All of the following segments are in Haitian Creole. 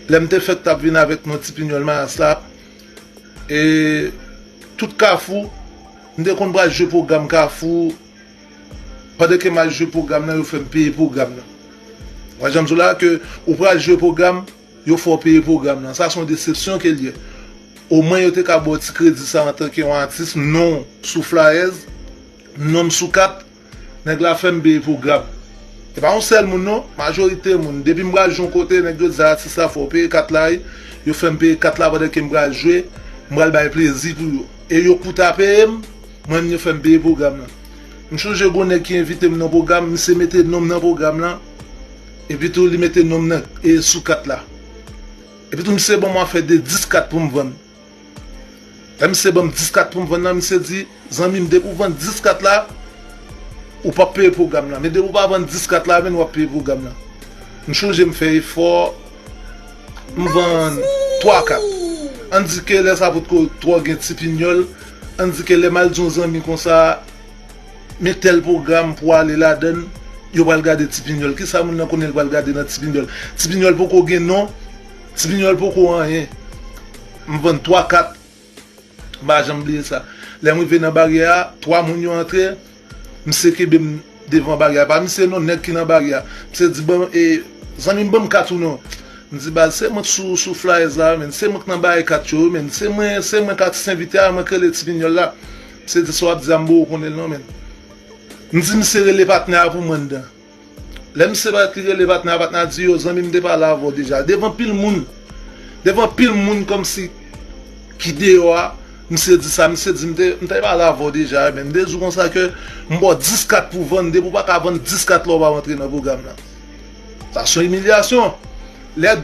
Lè m te fèt t ap vin avèk mwen ti pinyòl mayas la e tout kafou m te konn pral jwe pwogram kafou pandan ke m al jwe pwogram nan yo fè m peye pwogram nan wè jan m di w la ke ou pral jwe pwogram yo fè w peye pwogram nan sa se yon desepsyon ke l ye omwen yo te ka ba w ti kredi sa antanke yon atis non w sou flayèz non m sou kat. Nèg la fèm peye pou grab. E pa yon sèl moun non, majorite moun. Depim pral jwe yon kote nèg yo di atis la fòw peye kat la wi, yo fèm peye kat la pandan kem pral jwe, m pral bay plezi pou yo. E yo kou ta peyem, mwen menm yo fèm peye pwogram lan. M chonje gon nèg ki envitem nan pwogram, misye mete nonm nan pwogram lan, epi tou li mete nonm nan sou kat la. Epi tou misye banm afè de 10 kat poum vann. Lè misye banm 10 kat poum vann nan misye di zanmim depi ou vann 10 kat la ou pap peye pwogram lan men depi ou pa vann 10 kat la avèn wap peye pwogram lan m chonje m fè efò m vann 3 kat ann di ke lè sa potko twò gen ti pinyòl ann di ke lè mal di yon zanmi konsa men tèl pwogram pou ale ladann yo pral gade ti pinyòl kisa moun nan konnen l pral gade nan ti pinyòl ti pinyòl poko gen non. Ti pignol poko anyen m vann 3 kat m pa janm bliye sa lèm rive nan baryè a 3 moun yo antre misye kenbem devan baryè a pa misye non nèg ki nan baryè a misye di banm e zanmim banm kat ou non m di baz se mwen k sou sou flyers la wi menn se mwen k nan bay kat yo wi menn se mwen se mwen k atis envite a mwen k rele ti pignol la misye di sa wap di a m boo konnenl non menn m di misye rele patnè a pou mwen anndan. Lè misye bat li rele patnè a patnè a di yo zanmi m te pale avèw deja devan pil moun devan pil moun kòmsi ki deyò a misye di sa misye di m te m te pale avèw deja ebyen m te di w konsa ke m baw 10 kat pou vann depi w pa ka vann 10 kat la w pa rantre nan pwogram nan sa son imilyasyon lè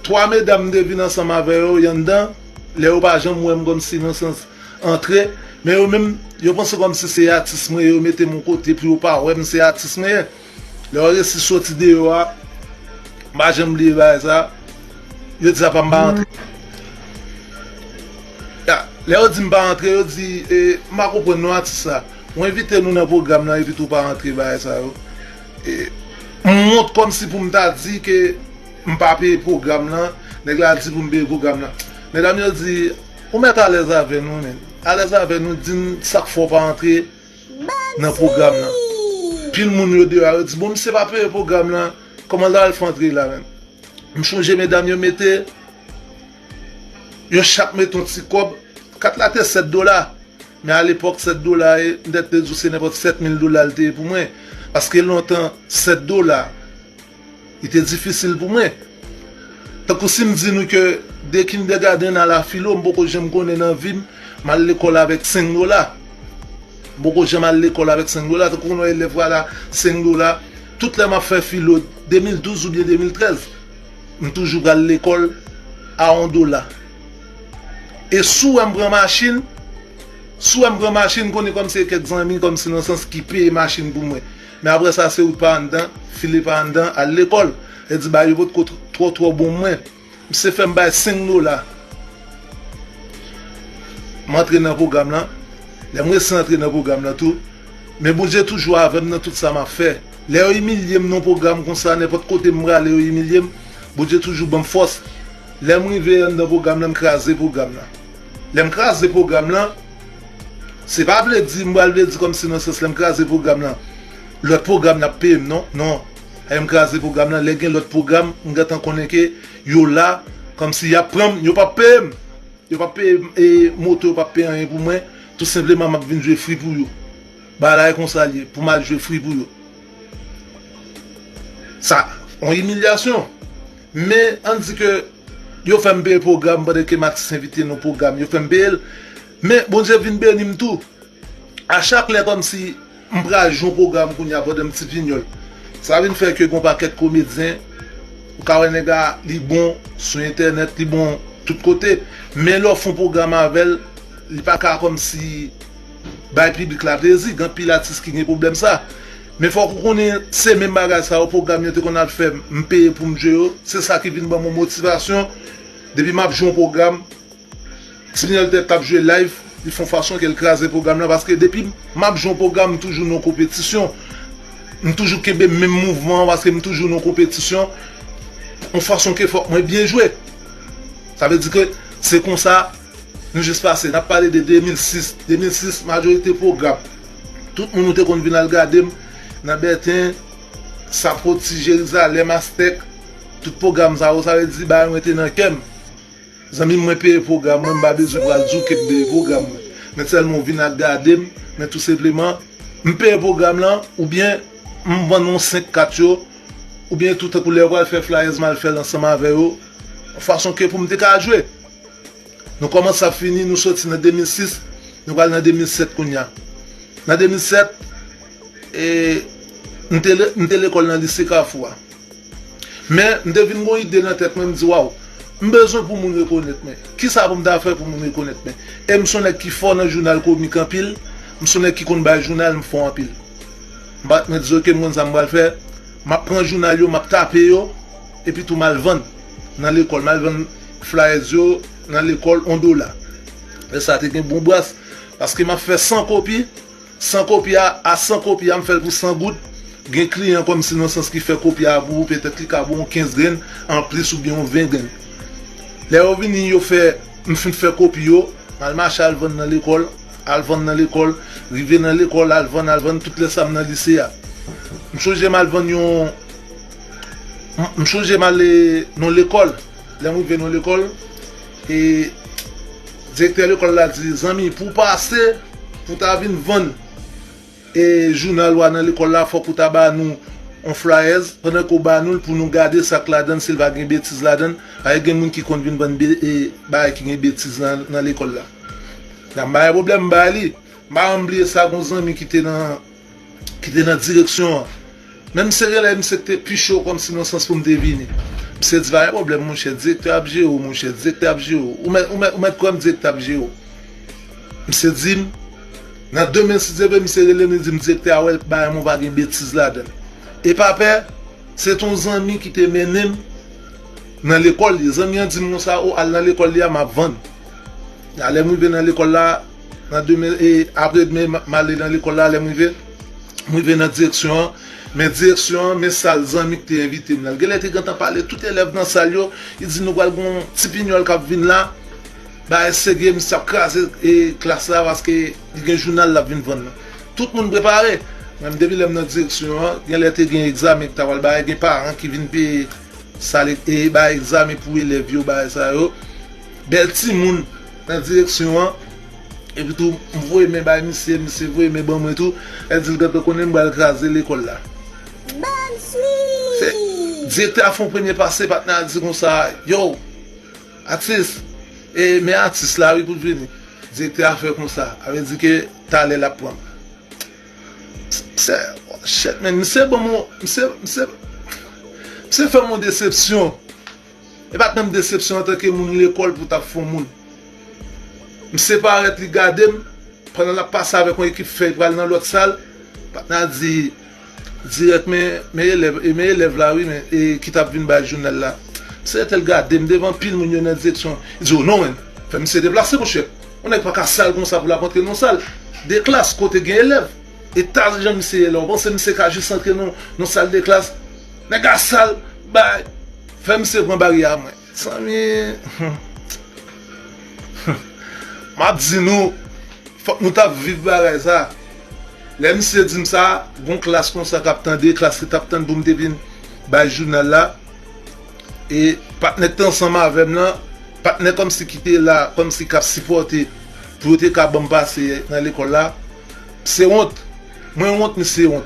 3 medam m te vin ansanm avè yo yon dan lè yo pa janm wè m kòmsi nan sans. antre men yo menm yo panse kòmsi se atis mwen ye yo metem yon kote pou yo pa wèm se atis mwen ye lè yo resi soti deyò a m pa janm bliye bagay sa yo di apa m pa antre ya lè yo di m pa antre yo di m pa konprann non atis sa ou envite nou nan pwogram lan epi tou pa antre bagay sa yo m wont kòmsi pou m ta di ke m pa peye pwogram lan nèg la di pou m peye pwogram lan medam yo di. Ou mèt alèz avè nou men. Alèz avè nou di n sak fè w pa antre nan pwogram lan. Pil moun yo deyò a yo di bon misye pa peye pwogram lan kòman l ta al fè antre la menm. M chonje medam yo mete yo chak mete yon ti kòb. Kat la te 7 dola men alepòk 7 dola e m tèt te di w se nenpòt 7 mil dola l te ye pou mwen paske lontan 7 dola Li te difisil pou mwen. Tankou si m di nou ke de kindègadenn a la filo m poko janm konnen nan vi m m al lekòl avèk senk dola. M poko janm al lekòl avèk senk dola. Tankou konn yon elèv pral a senk dola. Tout lè m ap fè filo 2012 oubyen 2013, m toujou pral lekòl a yon dola. E si w wè m pran machin, si w wè m pran machin, m konnen kòm se kèk zanmi kòm si nan sans ki peye machin pou mwen. Men aprè sa se ou pa anndan, file pa anndan, al lekòl. Lè di bagay yo pot ko twò twò bon mwen. Misye fè m bay 5 dola. M antre nan pwogram lan. Lè m resi antre nan pwogram lan tou. Men Bondye toujou avè m nan tout sa m ap fè. Lè yo imilye m nan yon pwogram konsa, nenpòt kote m prale yo imilye m, Bondye toujou ban m fòs. Lè m rive anndan pwogram lan, m kraze pwogram lan. Lèm kraze pwogram lan, se pa vle di m pral vle di kòmsi nan sans lèm kraze pwogram lan lòt pwogram nan ap peye m non, non lèm kraze pwogram lan lè gen lòt pwogram m gentan konnen ke yo la kòmsi yap pran m yo pap peye m yo pap peye m e moto yo pap peye anyen pou mwen tou senpleman map vin jwe fri pou yo bagay konsa l ye pou m al jwe fri pou yo sa on imilyasyon. Men, ann di ke yo fè m peye pwogram pande ke Max envite nou pwogram yo fè m peye l, men Bondye vin beni m tou. A chak lè kòmsi m pral jwe yon pwogram kounye a pande m ti vinyòl. Sa vin fè ke gen yon pakèt komedyen, ou ka wè nèg la, li bon sou entènèt, li bon tout kote, men lè w fè yon pwogram avè l, li pa ka kòmsi bay piblik la plezi. Gen anpil atis ki gen pwoblèm sa. Men fòk ou konnen se menm bagay sa yo pwogram yo te konn al fè m peye pou m jwe yo, se sa ki vin ban mwen motivasyon depi m ap jwe yon pwogram Tignèl tèt ap jwe live li fon fason ke l kraze pwogram lan paske depi m ap jwe yon pwogram m toujou nan konpetisyon m toujou kenbe menm mouvman an paske m toujou nan konpetisyon yon fason ke fòk mwen byen jwe sa vle di ke se konsa. Nou jis pase, nap pale de 2006, 2006 majorite pwogram tout moun ou te konn vin al gade m nan Bèten, Sapoti, Jerizalèm, Astèk, tout pwogram sa yo, sa vle di bagay mwen te nan kè m. Zanmi m mwen peye pwogram mwen, m pa bezwen pral di w ke m peye pwogram mwen. Men sèlman w vin ak gade m, men tou senpleman m peye pwogram lan oubyen m vann ou 5 kat yo oubyen tou tankou lè yo pral fè flyers m al fè l ansanm avè yo fason ke pou m te ka jwe. Nou kòmanse ap fini, nou soti nan 2006, nou pral nan 2007 kounye a. Nan 2007, e, m te, m te lekòl nan Lise Kafou a. Men, m te vin gen yon ide nan tèt mwen, m di, waw, m bezwen pou moun rekonèt mwen. Kisa pou m ta fè pou moun rekonèt mwen? E m son nèg ki fò nan jounal komik anpil, m son nèg ki konn bay jounal, m fò anpil. M pa t, mwen di, oke, m konn sa m pral fè, m ap pran jounal yo, m ap tape yo. Epi tou mal vann nan lekòl. Mal vann flyers yo nan lekòl on dola. Lè sa a te gen bon bras. Paske m ap fè 100 kopi. 100 kopi a, a 100 kopi a m fè l pou 100 goud. Gen kliyan kòmsi nan sans ki fè kopi a pou ou petèt li ka ba w on 15 grenn anplis oubyen on 20 grenn. Lè yo vini yo fè, m fin fè kopi yo, m al mache al vann nan lekòl, al vann nan lekòl, rive nan lekòl al vann, al vann tout lè sa a m nan lise a. M chonje m al vann yon. M sonje m ale nan lekòl, lè m rive nan lekòl e direktè lekòl la di, zanmi pou w pase pou w ta vin vann e jounal ou a nan lekòl la fòk ou ta ba nou yon flayèz, pandan ke w ba nou l pou nou gade sa k ladan l si l pa gen betiz ladan l, paske gen moun ki konn vin vann bagay ki gen betiz nan lekòl la. M bay pwoblèm m bay li, m pa janm bliye sa gen yon zanmi ki te nan. ki te nan direksyon an. Menm serelay misye k te pi cho kòmsi nan sans pou m te vini. Misye di pa gen pwoblèm monchè, direktè ap jere w monchè, direktè ap jere w. Ou mèt kwè m direktè ap jere w. Misye di m, nan demen si Dye vle misye rele m li di m direktè a wè l bagay mwen pa gen betiz ladan l. E pa pè, se te yon zanmi ki te mennen m nan lekòl li. Zanmi an di m konsa, o al nan lekòl li a m ap vann. Alè m rive nan lekòl la, Nan demen e apre demen m ale nan lekòl la, lè m rive, m rive nan direksyon an, men direksyon an, men sal zanmi k te envite m nan. L genlè te gentan pale tout elèv nan sal yo, li di nou pral gen yon ti pinyòl k ap vin la, bagay serye, misye ap kraze e klas la paske li gen jounal l ap vin vann nan. Tout moun prepare! Men depi lè m nan direksyon an, genlè te gen egzamen k ta pral bay, gen paran ki vin peye sal e bay egzamen pou elèv yo, bagay sa yo. Bèl timoun! nan direksyon an, epitou m voye men bay misye, misye voye men ban mwen tou, e di l gad konnen m bal kraze lekòl la. Se Direktè a fè yon premye pase, patnè a di konsa, yow, atis, e men atis la wi pou l vini. Direktè a fè konsa, a vle di ke talè l ap pran m. Shit men, misye ban m yon, misye, misye, misye fè m yon desepsyon. E pat menm desepsyon antanke moun lekòl pou tap fon moun. M separèt li gadem pandan lap pase avèk yon ekip fèy pral nan lòt sal, patna di dirèk men men elèv e men elèv la wi men e ki tap vin bay jounal la. Mse retel gadem devan anpil moun yo nan direksyon li di o non men fè msye deplase monchè yon nèg paka sal konsa pou lap antre nan yon sal de klas kote gen elèv e tal jan msye ye la ou panse msye ka jis antre nan yon sal de klas nèg la sal bay Fè misye pran baryè a mwen. Mezanmi humm map di nou fòk nou tap viv bagay sa lè misye dim sa gon klas konsa kap tande klas ki tap tann poum te vin bay jounal la e patnè ki te ansanm avèm lan patnè kòmsi ki te la kòmsi kap sipòte pou yo te ka banm pase nan lekòl la mse wont mwen wont misye wont.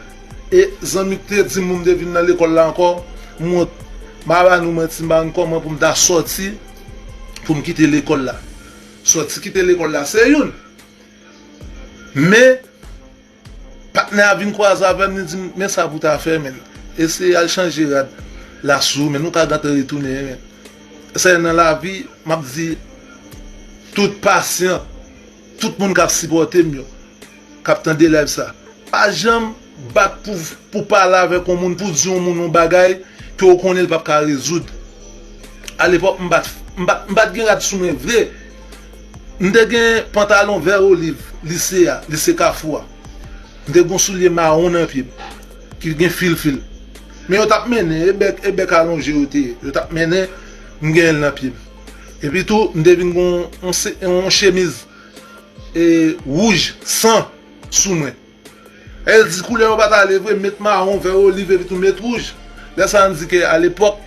E zanmi ki te dim pou m te vin nan lekòl la ankò, m wont. M a ba nou manti, m pa konn kòman pou m ta sòti pou m kite lekòl la. Sòti kite lekòl la se youn, men patnè a vin kwaze avè m, li di m, men sa pou w ta fè menn, eseye al chanje rad la sou menn, ou ka gentan retounen menn. Sèye nan lavi, m ap di tout pasyan, tout moun k ap sipòte m yo. kap tande live sa pa janm bat pou pou pale avèk yon moun pou di yon moun yon bagay ke ou konnen li pap ka rezoud alepòk m pat m pat m pat gen rad sou mwen vre m te gen pantalon vè oliv lise a lise kafou a m te gen yon soulye mawon nan pye m ki gen fil fil men yo tap mennen e bèk e bèk alonje yo te ye yo tap mennen m gen l nan pye m epitou m te vin gen yon yon chemiz Wouj, san, sou mwen. Èl di koulè yo pa t ale vre, met mawon, vè oliv epi tou met wouj. Lè sa an di ke alepòk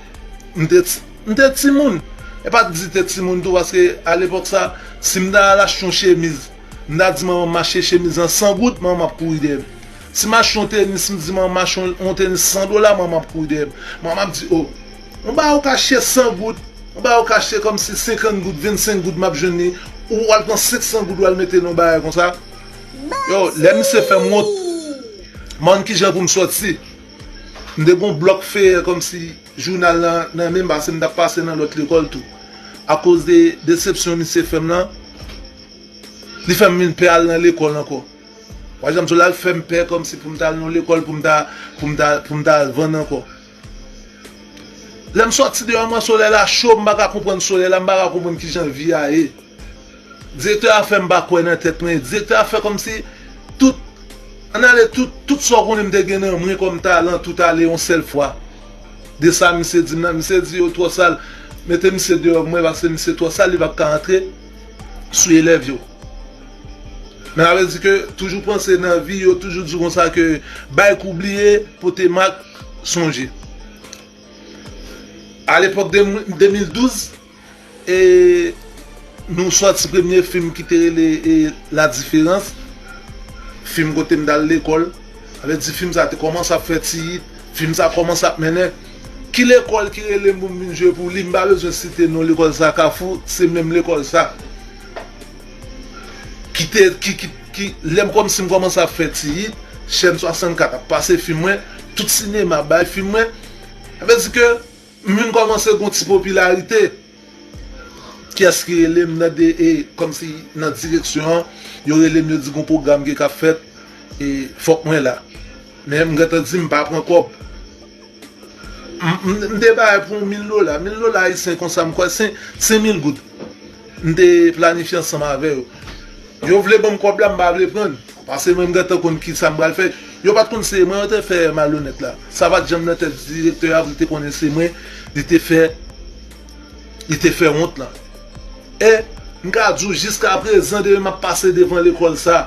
m te m te timoun. E pa t di te timoun tou paske alepòk sa si m ta al achte yon chemiz, m ta di manman m achte chemiz lan san goud, manman m ap kouri dèyè m. Si m achte yon tenis m di manman m achte yon tenis san dola, manman m ap kouri dèyè m. Manman m ap di o! Mwen ba ou kache 100 goud, mwen ba ou kache kòmsi 50 goud, 25 goud m'ap jwenn li, ou al pran 500 goud ou al mete nan yon bagay konsa. Yow, lè misye fè m wont, m'en kijan pou m sòti. M te gen yon blòk feyè kòmsi jounal lan nan men m pase m t'ap pase nan lòt lekòl tou. Akoz de desepsyon misye fè m lan, li fè m vin pè al nan lekòl ankò. Ou pa janm di w, l'al fè m pè kòmsi pou m t'al nan yon lekòl pou m ta, pou m ta, pou m ta al vann ankò. Lè m sòti deyò m wè solèy la cho, m pa ka konprann solèy la, m pa ka konprann ki jan vi a ye. Direktè a fè m pa kwè nan tèt mwen. Direktè a fè kòmsi tout, ann ale tout, tout sa w konnen m te gen nan mwen kòm talan tout ale yon sèl fwa. De sa misye di m la, misye di yo twò sal, mete misye deyò m wè paske misye twò sal li p ap ka antre sou elèv yo. Men sa vle di ke toujou panse nan vi yo toujou di w konsa ke bay kou bliye, pote mak. sonje a lepòk 2012 e nou sòti premye fim ki te rele la diferans fim kote m dal lekòl sa vle di fim sa te kòmanse ap fè ti yit fim sa kòmanse ap mennen ki lekòl ki rele m pou m vin jwe pou li m pa bezwen site non lekòl sa kafou se menm lekòl sa. Kite ki ki ki lèm kòmsim kòmanse ap fè ti hit chèn 64 ap pase fim mwen tout sinema bay fim mwen sa vle di ke m vin kòmanse gon ti popilarite kiyès ki relem nan de e kòmsi nan direksyon an yo relem yo di gon pwogram ki kap fèt e fòk mwen la men m gentan di m pa pran kòb M te bay pou w mil dola. Mil dola ayisyen konsa m kwè se se mil goud. M te planifye ansanm avè yo. Yo vle ban m kòb la m pa vle pran l. Pase mwen m gentan konn ki sa m pral fè. Yo pa t konn se mwen yo te fè malonèt la. Sa pa t janm nan tèt direktè a pou l te konnen se mwen li te fè li te fè wont lan. E m ka di w jiskaprezan depi m ap pase devan lekòl sa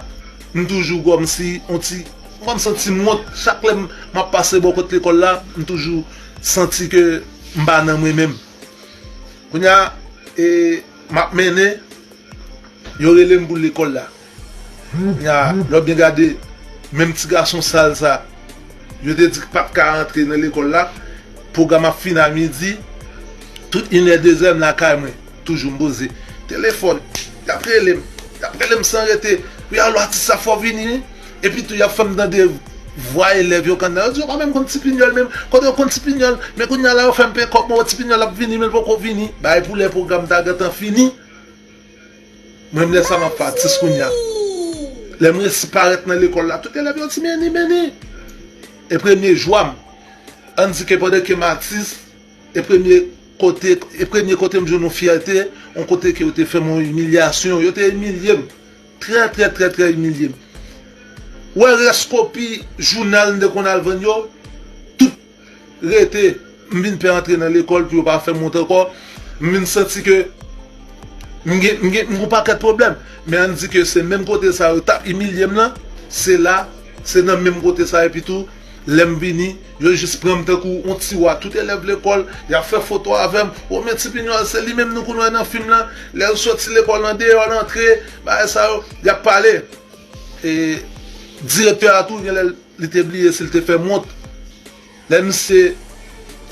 m toujou kòmsi on ti M pa santi m wont, chak lè m ap pase bò kot lekòl la, m toujou santi ke m pa nan mwen menm. Kounye a, e m ap mennen, yo rele m pou lekòl la. Kounye a, lè w ap byen gade, menm ti gason sal sa, yo te di k pa t ka antre nan lekòl la, pwogram ap fini a midi, tout inè dezè m lakay mwen. Toujou m poze telefòn yap rele m yap rele m san rete wi alo atis la fò vini wi epi tou yap fè m tande vwa elèv yo kanna yo di yo pa menm konn ti pinyòl menm kote yo konn ti pinyòl men kounye a la yo fè m peye kòb mwen wè ti pinyòl ap vini men l poko vini bay pou lè pwogram ta gentan fini mwen menm lè sa map fè atis kounye a lè m resi parèt nan lekòl la tout elèv yo di Meni Meni e premye jwa m an di ke pandan ke m atis. E premye kote e premye kote m jwenn yon fyète, yon kote ke yo te fè m yon imilyasyon, yo te imilye m, trè trè trè trè imilye m. Wè rès kopi jounal m te konn al vann yo, tout rete, m vin pè antre nan lekòl pou yo pa fè m wont ankò, m vin santi ke m gen m gen m gen yon pakèt pwoblèm. Men an n di ke se menm kote sa yo t ap imilye m lan, se la, se nan menm kote sa epitou lè m vini. Yo jis pran m tankou yon ti wa tout elèv lekòl y ap fè foto avè m o men ti pinyòl se li menm nou konn wè nan fim lan lè l soti lekòl nan deyò l antre bagay sa yo y ap pale e direktè a tou genlè li te bliye si l te fè m wont lè misye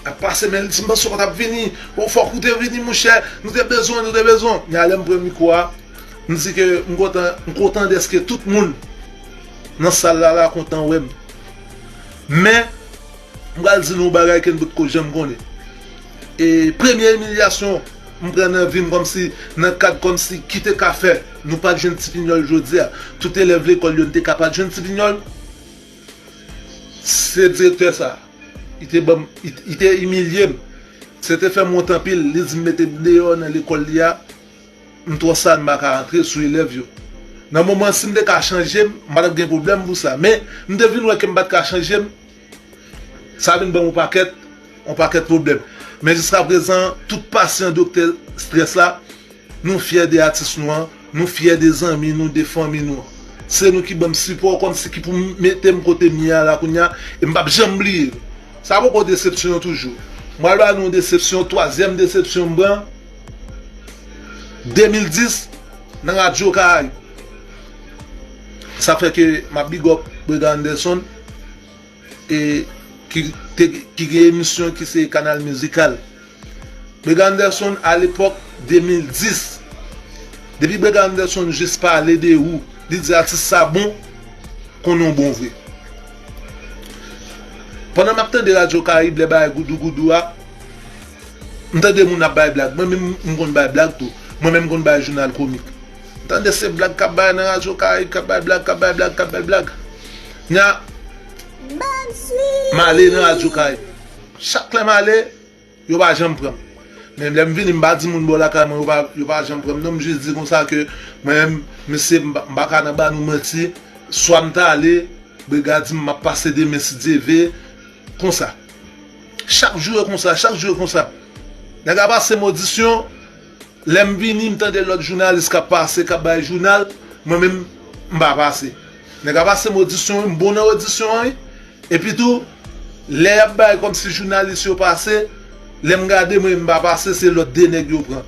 ap pase men l di m panse w pa t ap vini bon fòk ou te vini monchè nou te bezwen w nou te bezwen w men alè m pran mikwo a m di ke m kontan m kontan dèske tout moun nan sal la la kontan wè m. Men, m pral di nou yon bagay ke n potko janm konnen. E premye imilyasyon m pran nan vi m kòmsi nan kad kòmsi ki te ka fè nou pa t jwenn ti pinyòl jodi a, tout elèv lekòl yo n te ka pa t jwenn ti pinyòl, se direktè sa a. Li te ban m, li te imilye m. Se te fè m wont anpil. Li di m mete m deyò nan lekòl li a. M twò sad m pa ka antre sou elèv yo. Nan moman an si m te ka chanje m, m pa t ap gen pwoblèm pou sa. Men, m te vin wè ke m pa t ka chanje m. Sa vin ban m yon pakèt, yon pakèt pwoblèm. Men jiska prezan, tout pasyan doktè strès la, nou fyè de atis nou an, nou fyè de zanmi nou, de fanmi nou an. Se nou ki ban m sipò kòmsi ki pou m mete m kote m ye a la kounye a, e m p ap janm bliye l. Sa poko desepsyon an toujou. M pral ba nou yon desepsyon, twazyèm desepsyon m pran. 2010 nan radyo karayib sa fè ke map big up brega Anderson e ki gen emisyon ki se kanal mizikal brega Anderson a lepòk 2010 depi brega Anderson jis pale de ou li di atis sa bon konnen w bon vre pandan map tande radyo karayib lè bagay goudou goudou a. M tande moun ap bay blag mwen menm m konn bay blag tou mwen menm m konn bay jounal komik m tande se blag kap bay nan radyo karayib kap bay blag kap bay blag kap bay blag knya m ale nan radyo karayib chak lè m ale yo pa janm pranm men lè m vini m pa di moun bò lakay mwen yo pa janm pranm non m jis di konsa ke mwen menm mesye m pa ka nan ba nou manti swa m ta ale brega di m map pase demen si Dye ve. Konsa. Chak jou e konsa, chak jou e konsa. Nèg a pase m odisyon, lè m vini m tande lòt jounalis k ap pase, k ap bay jounal, mwen menm m pa pase. Nèg a pase m odisyon wi, m bon nan odisyon an wi. Epitou, lè y ap bay kòmsi jounalis yo pase, lè m gade mwen m pa pase, se lòt 2 nèg yo pran.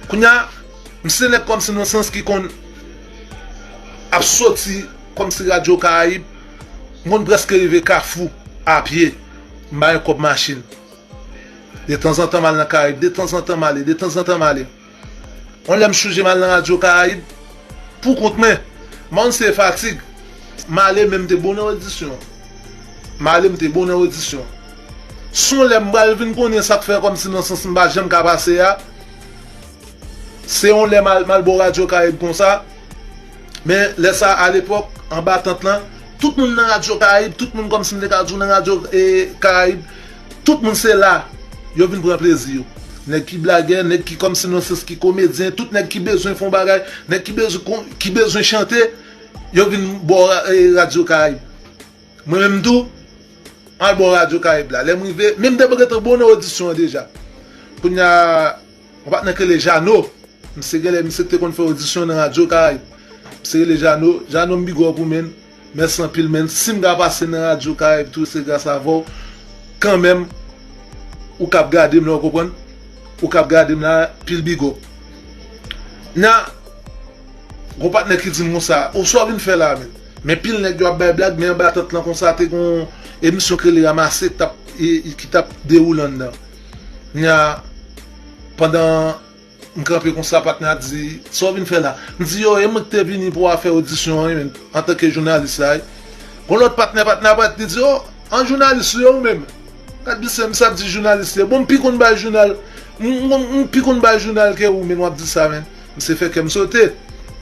Kounya m se nèg kòmsi nan sans ki konn ap soti kòmsi radyo karayib m konn prèske rive kafou a pye m ba yo kòb machin detanzantan m al nan karayib detanzantan m ale detanzantan m ale yon lè m chonje m al nan radyo karayib pou kont mwen m pa konn si e fatig m ale men m te bon nan odisyon m ale m te bon nan odisyon. Son lè m pral vin konnen sa k fè kòm si nan sans m pa janm ka pase a. Se yon lè m al m al bò radyo karayib konsa. Men lè sa a lepòk anba tant lan tout moun nan radyo karayib tout moun kòm si m te ka di w nan radyo karayib tout moun se la yo vin pran plezi yo. Nèg ki blagè nèg ki kòm si nan sans ki komedyen tout nèg ki bezwen fè yon bagay nèg ki bezwen ki bezwen chante yo vin bò radyo karayib. Mwen menm tou, m al bò radyo Karayib la. Lè m rive, men m te gentan bon nan odisyon an deja. Kounye a, yon patnè k rele Jano, misye genlè misye k te konn fè odisyon nan radyo Karayib. Misye rele Jano, Jano m big up ou menn, mèsi anpil menn. Si m ka pase nan radyo Karayib tou se gras avè w. Kanmenm, ou k ap gade m la, ou konprann, ou k ap gade m la, pil big up. Kounye a, gen yon patnè ki di m konsa, oswa w vin fè la menn? Men pil nèg yo ap bay blag men anba tant lan konsa te gon emisyon k rele ramase ki tap dewoule anndan. Kounya pandan m kanpe konsa patnè a di sa w vin fè la? M di yo e mwen k te vini pou afè odisyon an wi menm antanke jounalis la wi. Gon lòt patnè, patnè a pat li di oh an jounalis ou ye ou menm? Gad misye misye ap di jounalis li ye bon m pi konn bay jounal m pi konn bay jounal ke ou menn w ap di sa menn. Misye fè kèm sote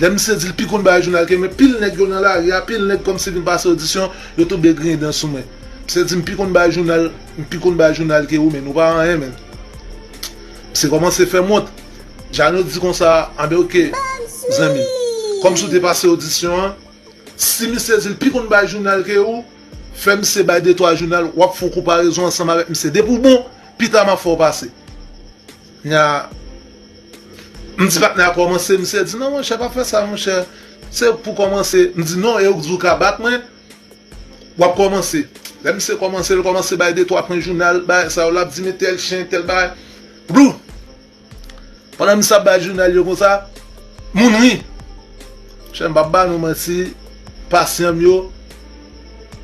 Lè misye dil pi konn bagay jounal ke mwen pil nèg yo nan lari a pil nèg kòmsi vin pase odisyon yo tonbe griyen dan sou mwen misye dim pi konn bagay jounal m pi konn bagay jounal ke ou men nou pa anyen men misye kòmanse fèm wont Jeannot di konsa anben ok zanmi kòmsi ou te pase odisyon an si misye dil pi konn bagay jounal ke ou fè misye bay de twa jounal wap fon konparezon ansanm avèk misye depi w bon pita map fè w pase. Nya, M di patnè a kòmanse, misye di non monchè pa fè sa monchè, se ou k pou kòmanse, m di non e ou k di ou ka bat mwen, wap kòmanse, lè misye kòmanse l kòmanse bay de twa pwen jounal bay sa yo lap di men tèl chen tèl bagay, blu! pandan misye ap bay jounal yo konsa, moun ri, monchè m pap ba nou manti pasyan m yo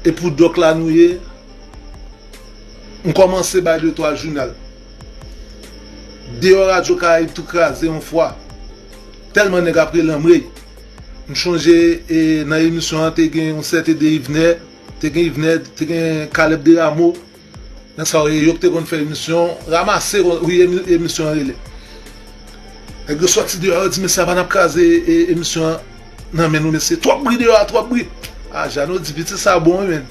e pou dòk la nou ye, m kòmanse bay de twa jounal. Deyò radyo karayib tou kraze yon fwa tèlman nèg ap rele anmrey m chonje nan emisyon an te gen yon sèten de Yvner te gen Yvner te gen Caleb Deramo nan sa w ye yo ki te konn fè emisyon ramase wi emisyon an rele nèg yo sòti deyò yo di mesye anba n ap kraze emisyon an nan men nou mesye twòp bri deyò a twòp bri a Jeannot di piti sa bon wi menn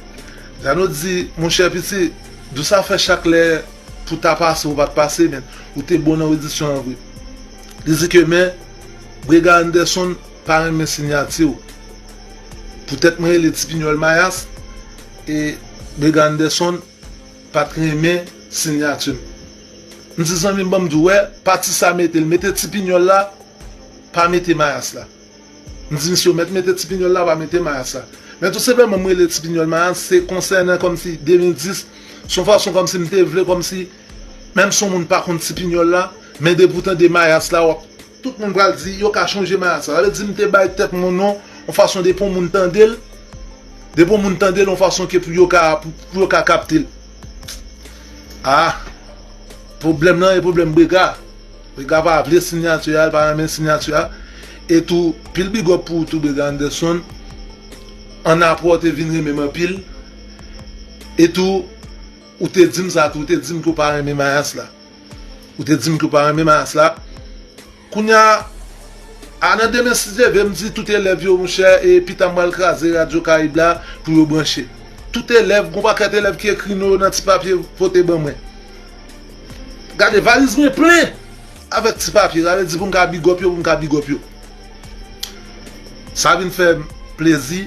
Jeannot di monchè piti dou sa fè chak lè. Pou ta pase ou pat pase men ou te bon nan redisyon an vre. Li di ke men Brega Anderson pa renmen sinyati ou. Poutèt mwen rele Tipinyòl Mayas e Brega Anderson pat renmen sinyati m. M di zanmi m banm di w wè pati sa mete l mete Tipinyòl la pa mete Mayas la. M di misye yo mèt mete ti pinyòl la pa mete mayas la. Men tou senpleman m rele ti pinyòl mayas se konsènan kòmsi 2010 s on fason kòmsi m te vle kòmsi menm si on moun pa konn ti pinyòl la men depi w tande mayas la wap tout moun pral di yo ka chonje mayas la sa vle di m te bay tèt mwen non on fason depi on moun tande l depi on moun tande l on fason ke pou yo ka pou yo ka kapte l ah pwoblèm lan e pwoblèm brega. Vega pa vle sinyati a li pa renmen sinyati a e tou pil big up pou ou tou Vega Anderson an aprè ou te vin renmen m anpil e tou ou te di m sa tou ou te di m ke w pa renmen mayas la ou te di m ke w pa renmen mayas la kounya a nan demen si Dye ve m di tout elèv yo monchè e pita m pral kraze radyo karayib la pou yo branche tout elèv gon pakèt elèv ki ekri non yo nan ti papye pote ban mwen. Gade valiz mwen plen avèk ti papye sa vle di pou m ka bigòp yo pou m ka bigòp yo sa vin fè m plezi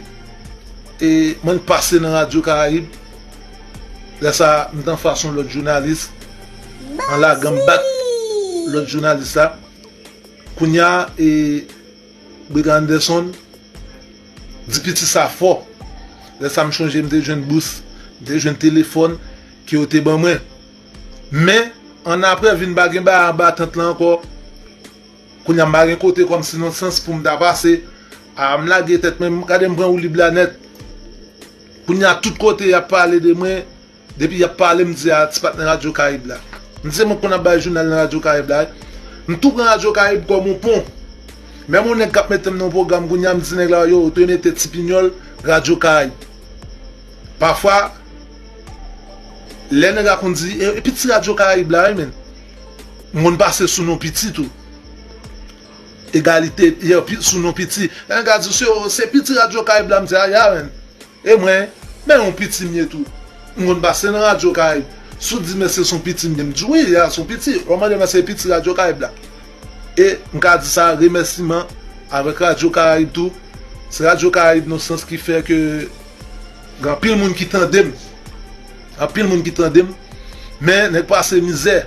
e mwen pase nan radyo karayib lè sa m t anfas yon lòt jounalis an lagan m bat lòt jounalis la kounya e Brig Anderson di piti sa fò. Lè sa m chonje m te jwenn bous, m te jwenn telefòn ke yo te ban mwen. Men, annapre vin pa gen bagay anba tant lan ankò. Kounye a m pa gen kote kòm si nan sans pou m ta pase. A m lage tèt mwen, gade m pran woulib la nèt. Kounye a tout kote y ap pale de mwen. Depi yap pale m di a ti patnè radyo karib la. M di se mwen ki konn ap bay jounal nan radyo karib la wi. M tou pran radyo karib kòm yon pon. Menm yon nèg kap mete m nan yon pwogram kounye a m di nèg la yo ou dwe mete ti pinyòl radyo karib. Pafwa lè nèg la konn di e pi ti radyo karib la wi men. M konn pase sou non piti tou. Egalite sou non piti. Lè nèg la di se pi ti radyo karib la m di a ya men. E mwen, men yon piti m ye tou. M konn pase nan radyo Karayib. Si w di men se son piti m ye, m di wi, ya son piti. Lè w mande men se piti radyo Karayib la. E m ka di sa remèsiman avèk radyo Karayib tou. Se radyo Karayib nan yon sans ki fè ke gen anpil moun ki tande m. Anpil moun ki tande m. Men nèg pase mizè.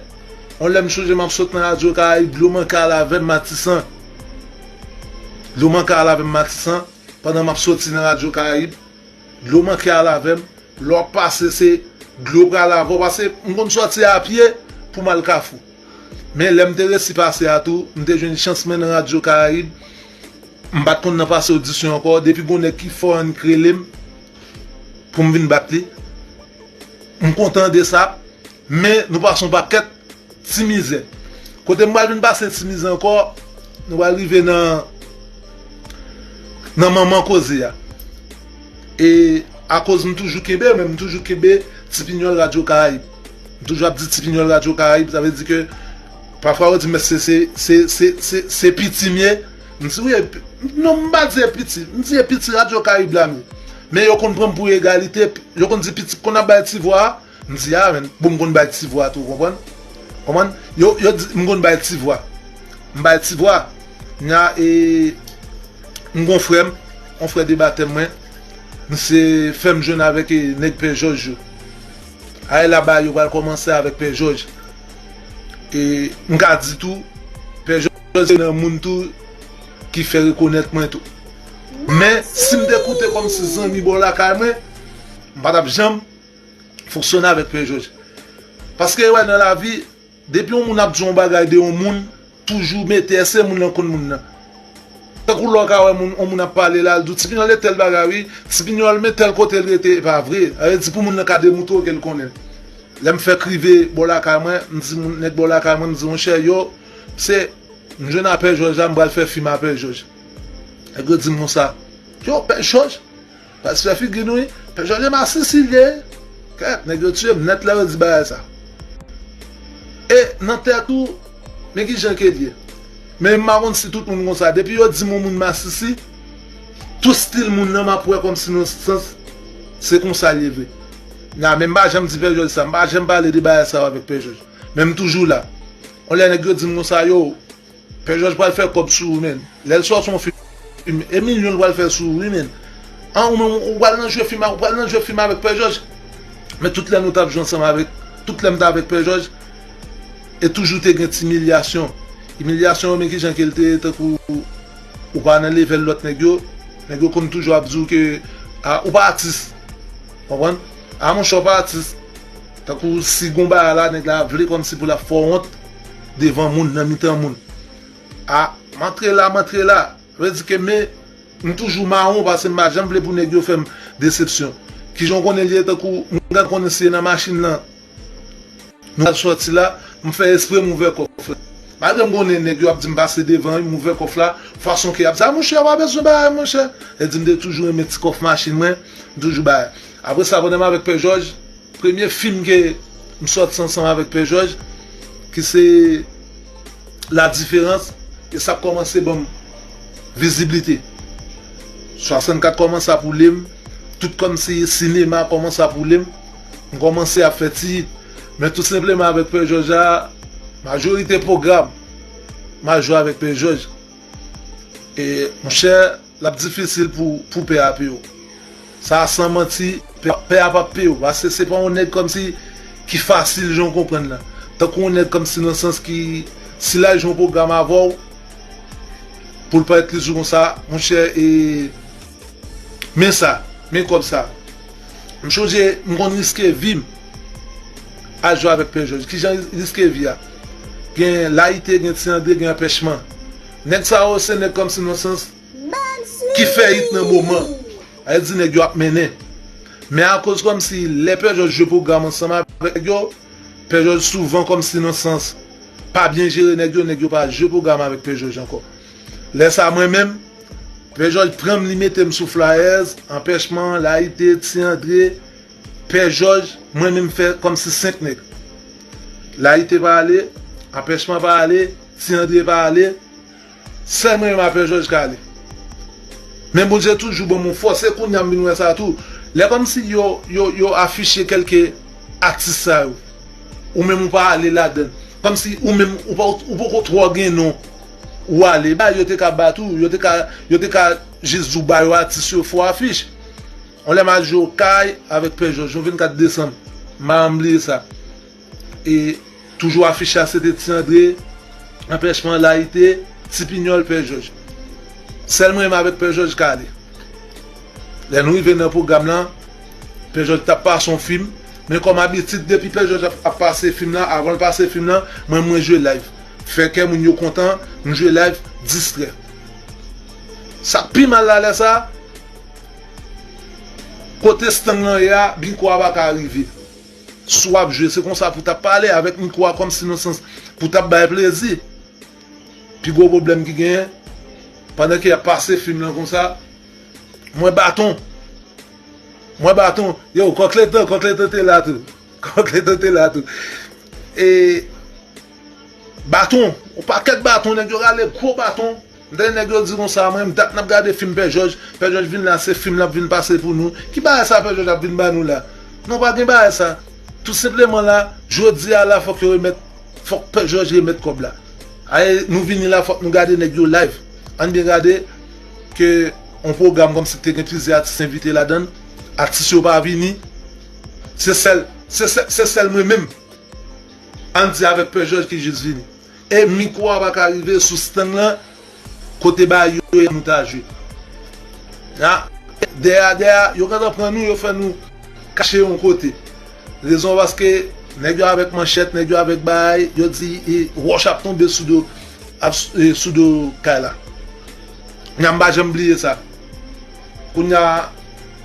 Yon lè m chonje m ap sot nan radyo Karayib, dlo manke ale avè m Matisan. Dlo manke ale avè m Matisan. Pandan map soti nan radyo karayib dlo manke al avèm lè wap pase se dlo pral avèw pase m konn sòti a pye poum al kafou men lèm te resi pase a tou m te jwenn chans mwen nan radyo karayib m pat konn nan pase odisyon ankò depi gon nèg ki fò annik relem poum vin bat li m kontan de sa. Men nou pase yon pakèt ti mizè. Kote m pral vin pase ti mizè ankò, nou pral rive nan nan manman koze a. E akoz m toujou kenbe men, m toujou kenbe Tipinyòl Radyo Karayib. M toujou ap di Tipinyòl Radyo Karayib, sa vle di ke pafwa yo di m èske se se se se se piti m ye? M di wi e pi non m pa di e piti, m di e piti Radyo Karayib la m ye. Men yo konn pran m pou egalite, yo konn di piti, konn ap bay ti vwa a. M di a men bon m konn bay ti vwa tou konprann konprann yo yo di m konn bay ti vwa m bay ti vwa knya e m gon frè m on frè de batèm mwen misye fè m jwenn avèk e nèg pè jòj yo a e la bagay yo pral kòmanse avèk pè jòj e m ka di tou pè jòj se nan moun tou ki fè rekonèt mwen tou men si m te koute kòmsi zanmi bò lakay mwen m pa tap janm fonksyone avèk pè jòj paske yo wè nan lavi depi yon moun ap di yon bagay de yon moun toujou mete èske moun lan konn moun nan tankou lè w ka wè moun yon moun ap pale la l di w ti pinyòl e tèl bagay wi ti pinyòl men tèl kote l rete e pa vre sa vle di pou moun lan ka demontre w ke l konnen l lè m fèk rive bò lakay mwen m di moun nèg bò lakay mwen m di monchè yo se m jwenn a pè jòj la m pral fè fim a pè jòj nèg yo di m konsa yo pè jòj. Pas fè figi nou wi. Pè jòj e masisi vye. Kèèt nèg yo tiyem nèt lè yo di bagay sa. E nan tèt ou men kijan kel ye. Men m pa konn si tout moun konsa depi yo dim yon moun masisi tout stil moun nan map wè kòmsi nan sans se konsal ye vre. Na men m pa janm di pè jòj sa m pa janm pale de bagay sa yo avèk pè jòj. Men m toujou la. Yon lè nèg yo dim konsa yo. Pè jòj pral fè kòb sou ou menn lèl sòti yon film e milyon li pral fè sou ou wi menn an ou menm ou pral nan jwe film ou pral nan jwe film avèk pè jòj men tout lè nou tap jwe ansanm avèk tout lèm ta avèk pè jòj e toujou te gen ti milyasyon imilyasyon yo men kijan kel te ye tankou ou pa nan levèl lòt nèg yo nèg yo konn toujou ap di ou ke a ou pa atis konprann a monchè ou pa atis tankou si gon bagay la nèg la vle kòmsi pou lap fè w wont. devan moun nan mitan moun. A, m antre la, m antre la. Sa vle di ke me, m toujou mawon pase m pa janm vle pou nèg yo fè m desepsyon. Ki jan w konnen li ye tankou m gad konnen si e nan machin lan nou pral sòti la, m fè espre m ouvè kòf la. Malgre m konnen nèg yo ap di m pase devan wi, m ouvè kòf la fason ke y ap di a monchè pa bezwen bagay monchè. Yo di m te toujou renmen ti kòf machin mwen, m toujou bay. Apre sa pandan m avèk Pè Jòj. Premye fim ke m sòti ansanm avèk Pè Jòj ki se La Différence e sa kòmanse banm viziblite. 64 kòmanse ap woule m, tout kòmsi sinema kòmanse ap woule m, m kòmanse ap fè ti hit. Men tou senpleman avèk Pè Jòj la, majorite pwogram m al jwe avèk Pè Jòj. E monchè! Lap difisil pou pou pè a pyew. Sa a san manti, pè a pap pyew pase se pa yon nèg kòmsi ki fasil jan w konprann lan. Tankou yon nèg kòmsi nan sans ki si lal jwe yon pwogram avèw poul parèt li sou konsa monchè e men sa, men kòb sa. M chonje m konn riske vim al jwe avèk pè jòj. Kijan riske vi a? Gen layite, gen ti andre, gen anpèchman. Nèg sa yo se nèg kòmsi nan sans ki fè hit nan moman a yo di nèg yo ap mennen men akoz kòmsi lè Pè Jòj jwe pwogram ansanm avèk yo Pè Jòj souvan kòmsi nan sans pa byen jere nèg yo nèg yo pa jwe pwogram avèk Pè Jòj ankò lè sa mwen menm Pè Jòj pran m li mete m sou Flyers Anpèchman Layite Ti Andre Pè Jòj mwen menm fè kòmsi 5 nèg Layite pa ale Anpèchman pa ale. Si andre pa ale Sel mwen menm afe joj ka ale Men bondye toujou banm yon fos se kounya m vin we sa tou Le komsi yo yo yo afiche kelke atis sa yo ou menm ou pa ale ladann komsi ou menm ou pa ou poko tro gen non ou ale bay yo te ka bat ou yo te ka yo te ka jis di w ba yo atis yo fo afiche yon le ma jwe okay avek pè joj yon 24 desanm m pa janm bliye sa. E toujou afiche a se te Ti Andre, Anpèchman layite, Ti Pinyòl, Pè Jòj. Sèl mwen menm avèk Pè Jòj k ale. Lè nou rive nan pwogram lan, Pè Jòj t ap pase yon fim, men kòm abitid depi Pè Jòj ap pase fim lan, avan l pase fim lan, mwen menm mwen jwe layv. Fè kè moun yo kontan, m jwe layv, distrè. Sa k pi mal la lè sa a, kote stang lan ye a, mikwo a pa ka rive. Si w ap jwe, se konsa pou w t ap pale avèk mikwo a kòmsi nan sans pou w t ap bay plezi. Pi gwo pwoblèm ki genyen, pandan ke y ap pase fim lan konsa, mwen baton, mwen baton, yow Kòkleto, Kòkleto te la tou, Kòkleto te la tou. E baton, yon pakèt baton, nèg yo rale gwo baton. M tande nèg yo di konsa mwen menm dat nap gade fim pè jòj, pè jòj vin la se fim lap vin pase pou nou, ki bagay sa pè jòj ap vin ba nou la, non pa gen bagay sa, tout senpleman la jodi a la fòk yo remèt fòk pè jòj remèt kòb la ae nou vini la fòk nou gade nèg yo live ann byen gade ke on pwogram kòmsi k te gen plizyè atis envite ladann atis yo pa vini se sèl se sèl se sèl mwen menm ann di avèk pè jòj ki jis vini. E mikwo a paka rive sou stand lan kote bagay yo ye nou ta jwe la dèyè a dèyè a yo gentan pran nou yo fè nou kache yon kote rezon paske nèg yo avèk manchèt nèg yo avèk bagay yo di wòch ap tonbe sou do sou do kay la nan m pa janm bliye sa. Kounya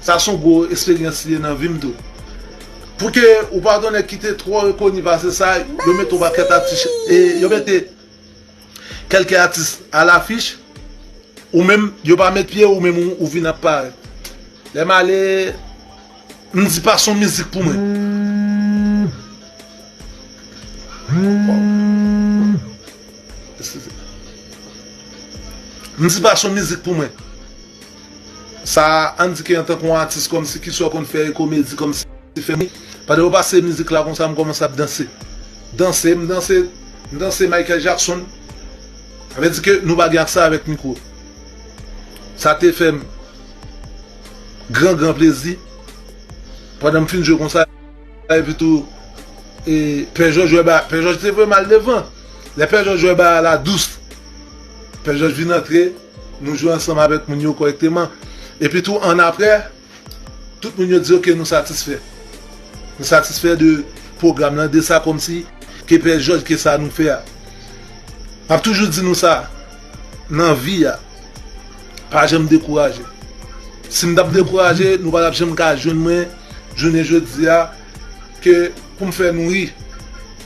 sa son gwo esperyans li ye nan vim tou. Pou ke ou pa gen nèg ki te twò rekoni pase sa, yo mete yon pakèt atis e yo mete kèlke atis a lafich, ou menm yo pa met pye ou menm ou vin ap parèt. Lè m ale. M di pa son mizik pou mwen. M di pa son mizik pou mwen. Sa a an di ke antanke yon atis kòmsi ki sò konn fè e komedi kòmsi fè mi. Pandan yo pase mizik la konsa m kòmanse ap danse. Danse m danse m danse Michael Jackson. Sa vle di ke nou pa gen aksè avèk mikwo. Sa te fè m. gran gran plezi pandan m fin jwe konsa epi tou e pè jòj wè ba pè jòj te vwem al devan lè pè jòj wè ba a la dous pè jòj vin antre nou jwe ansanm avèk moun yo kòrèkteman epi tou annapre tout moun yo di ok nou satisfè nou satisfè de pwogram lan de sa kòmsi ke pè jòj ke sa nou fè a m ap toujou di nou sa Nan vi a, pa janm dekouraje. Si m t ap dekouraje, nou pa t ap janm ka jwenn mwen jounen jodi a ke pou m fè nou ri.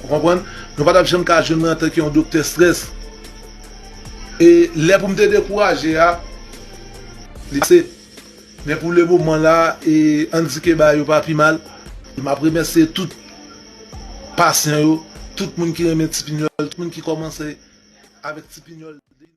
Ou konprann? Nou pa t ap janm ka jwenn mwen antanke yon doktè strès. E lè pou m te dekouraje a, li pase. Men pou le moman la, e an n di ke bagay yo pa pi mal. M ap remèsye tout. Pasyan yo, tout moun ki renmen ti pinyòl, tout moun ki kòmanse avèk ti pinyòl.